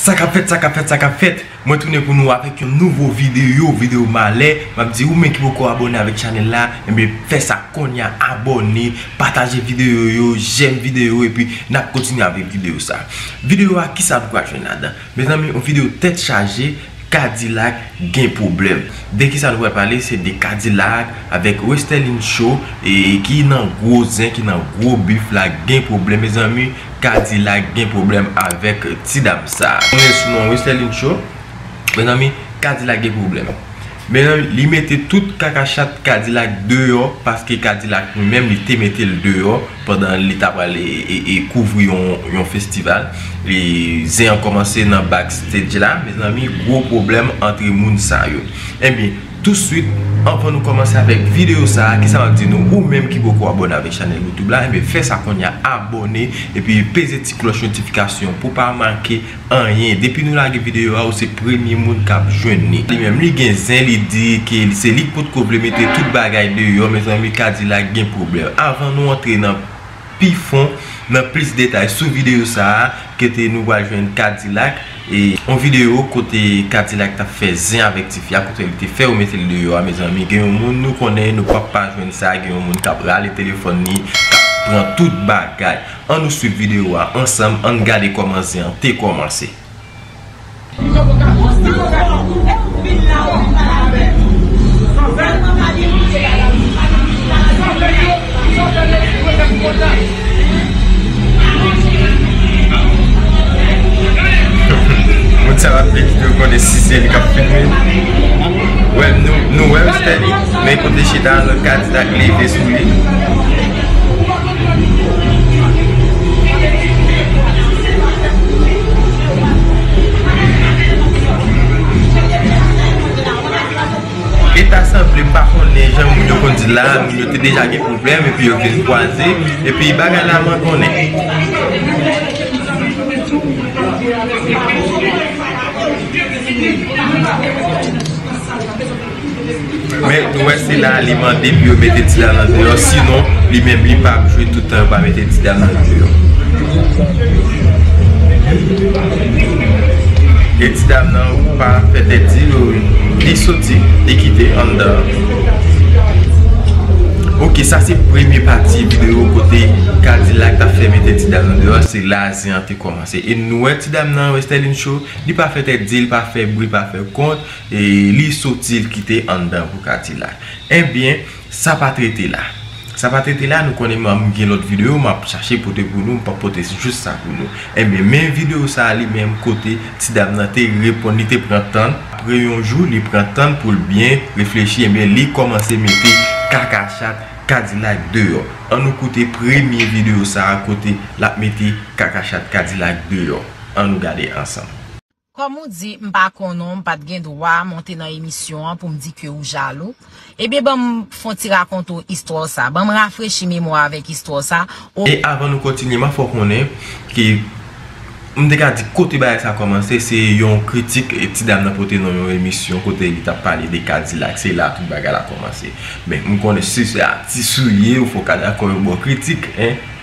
Sa kap fèt, sa kap fèt, sa kap fèt Mwen tounen pou nou avèk yon nouvo videyo Videyo malè Map di ou menm ki poko abòne avèk chanèl la Enbyen eh fè sa konnya abòne Pataje videyo yo Jèm videyo yo Epi nap kontinye avèk videyo sa Videyo a kisa nou pral jwenn ladan? Mezanmi yon video tèt chaje kadilak gen pwoblèm de kisa nou pral pale se de kadilak avèk westerline show e ki nan gwo zen ki nan gwo bif la gen pwoblèm mezanmi kadilak gen pwoblèm avèk ti dam sa mezanmi kadilak gen pwoblèm. Men li mete tout kaka chat kadilak deyò paske kadilak li menm li te mete l deyò pandan li ta pral kouvri yon festival zen an kòmanse nan back stage la mezanmi gwo pwoblèm antre moun sa yo ebyen touswit anvan nou kòmanse avèk videyo sa kisa map di nou ou menm ki poko abòne avèk chanèl youtube la ebyen fè sa kounya abòne epi peze ti klòch notifikasyon pou pa manke Anyen. Depi nou lage video a ou se premye moun kap jwenn li. Li menm li gen zen li di ke se li k potko vle mete tout bagay deyò mezanmi kadilak gen pwoblèm. Avan nou antre nan pi fon nan plis detay sou video sa a kote nou pral jwenn kadilak e yon video kote kadilak tap fè zen avèk tifi a kote li te fè yo mete l deyò a mezanmi gen yon moun nou konnen nou pap pa jwenn sa gen yon moun kap rale telefòn li kap pran tout bagay. An nou swiv video a ansanm ann gade koman zen an te komanse. Moun sa yo ap vin fè yo konnen si se li kap filme. Nou wèl Stanley men kote chita a lot kadi dak leve sou li. E ta sanble m pa konnen jan moun yo konn di la moun yo te deja gen pwoblèm epi yo vin kwaze epi bagay la mandonnen. Men nou wè se la li mande pou yo mete ti Dana deyò sinon li menm li pa ap jwe tout tan yo pa mete ti Dana deyò. E ti dam nan ou pa fè tèt di yo li soti li kite anndan an. Ok sa se premye pati videyo kote Kadilak ta fè mete ti dam nan deyò se la zen an te kòmanse e nou wè ti dam nan Westerline Show li pa fè tèt di li pa fè bri pa fè kont. Li soti l kite anndan pou kadilak. Ebyen sa pa trete la. Sa pa trete la nou konnen mwen gen lòt video map chache pote pou nou m pap pote jis sa pou nou. Ebyen men video sa li menm kote ti dam nan te reponn li te pran tann. Apre yon jou li pran tann pou l byen reflechi ebyen li kòmanse mete kaka chat kadilak deyò. An nou koute premye video sa kote lap mete kaka chat kadilak deyò. An nou gade ansanm. Kòm ou di m pa konnen w m pat gen dwa monte nan emisyon an pou m di ke ou jalou, ebyen ban m fon ti rakonte w istwa w sa, ban m rafrechi memwa w avèk istwa w sa, o. E avan nou kontinye ma fè w konnen ke m te ka di kote bagay sa kòmanse se yon kritik ti dam nan pote nan yon emisyon kote li tap pale de kadilak se la tout bagay la kòmanse men m konnen si se atis ou ye ou fè w ka dakò yon bon kritik en.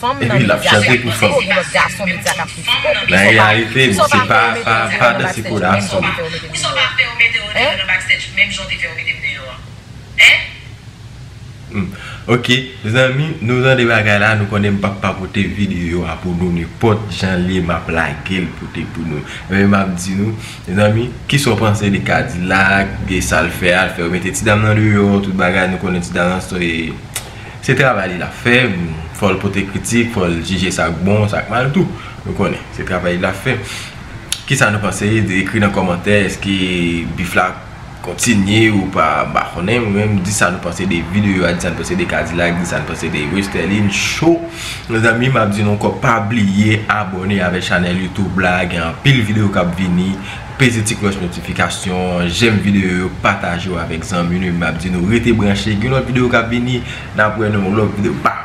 Fanm nan medya se yon plis gwo ki lòt gason medya kap swiv tibò nou. Poussaw pa poussaw pa fè yo mete yo deyo nan backstage menm jan ou te fè yo mete m deyo an. Hein? Ok mezanmi nou tande bagay la nou konnen m pap pa pote video a pou nou nenpòt janl ye map lagel pote pou nou ebyen map di nou mezanmi kisaw panse de kadilak de sal fè a al fè yo mete ti dam nan deyò tout bagay nou konnen ti dam nan se Se travay li lap fè, fòl pote kritik, fòl jije sak bon, sak mal tou. Nou konnen, se travay li lap fè. Kisa nou panse, ekri nan kòmantè, eske bif la kontinye ou pa, mpa konnen mwen menm, di sa nou panse de video a, di sa nou panse de kadilak, di sa nou panse de westerlin show. Mezanmi map di nou ankò pa bliye abòne avèk chanèl youtube la, gen anpil video kap vini. Peze ti klòch notifikasyon, jèm videyo yo, pataje yo avèk zanmi nou epi map di nou rete branche gen lòt videyo kap vini nap wè nan yon lòt videyo baww.